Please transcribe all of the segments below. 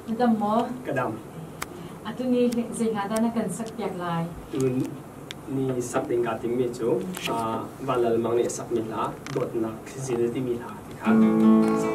Na dam maw? Ka dam. Atu ni zei hna dah na kan sakpiak lai? Tu ni sak ding kaa timmi cu Van Lal Mang nih a sakmi hla Dawtnak Zil timi hla ti kha sak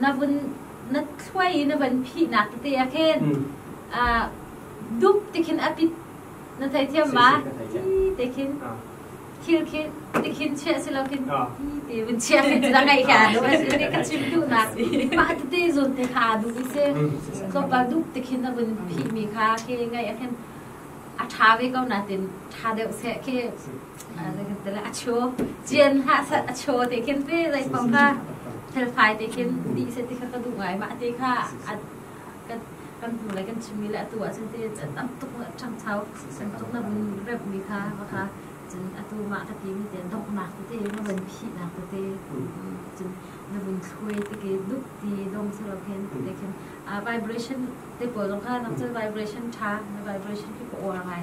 na vun na thluai na van phihnak te ah khin uh, dup tikhin apit na thai thiam ma ti te khin khil khin ti khin che si lo khin ti te vun chia khin na ngai ka ne ka chim du na pa te zun te kha du se so pa dup tikhin na vun phi mi kha ke ngai a khin a tha ve ko na tin tha deuh se ke a chaw cian ha sat a chaw te khin pe zai pang kha felfai te khin ti se ti kha ka du ngai ma te kha kan tu lai kan chimi la tu a sen te tam tuk chang chau kan tuk na rep mi kha ba kha cun atu ma ka ti mi ten dok na ku te na ban phi na ku te cun na bun thue te ke duk ti dong se lo khen lekin vibration te ko long kha nam chal vibration tha na vibration ki ko or ngai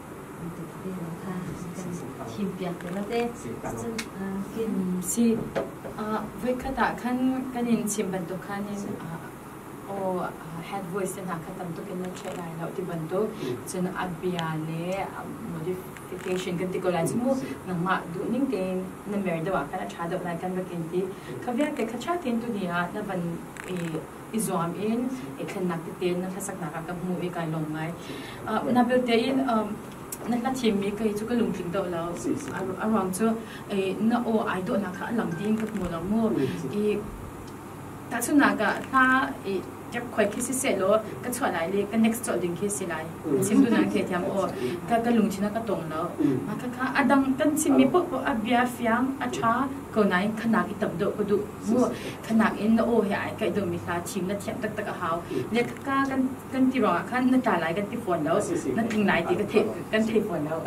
bantuk tein kha kan thimpiak te la te cun kin si voikhat ah khan kan in chim bantuk khan in aw head voice hna kha tam tuk in na theih lai lo ti bantuk cun a bia le modification kan ti ko lai mu nangmah duh ning tein na mer deuh ah kan a tha deuh lai kan va kin ti ka vialte kha tha tin tu ni ah na van i i zuam in i thlennak tete na hlasaknak ah ka hmu i kai lawm ngai na belte in na hla thimmi kei cu ka lungtling deuh lo a ruang cu na aw ai dawhnak kha a lang ding ka hmu lo mu i tahchunnak ah hla i tep khoi khi si se lo ka chuah lai le ka next cawh ding khi si lai sim tu nang the thiam o ka ka lung china ka tong lo ma ka ka adang kan chim mi po po a bia fiang a tha ko nai khana ki tam do ko du mu khanak in na aw he ai kai do mi hla thim na thiam taktak a hau le ka kan kan ti rong ah khan na ta lai kan ti fawn lo na ting lai ti ka thei kan thei fawn lo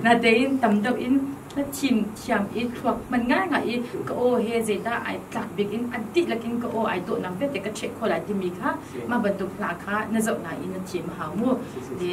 na te in tam deuh in na thim thiam i thluak man ngai nga i ka aw he zei da ai tlak bik in a ti lakin ka aw ai to nang vete ka chek kho lai ti mi kha ma bantuk hla kha na zau na in na thim hau mu le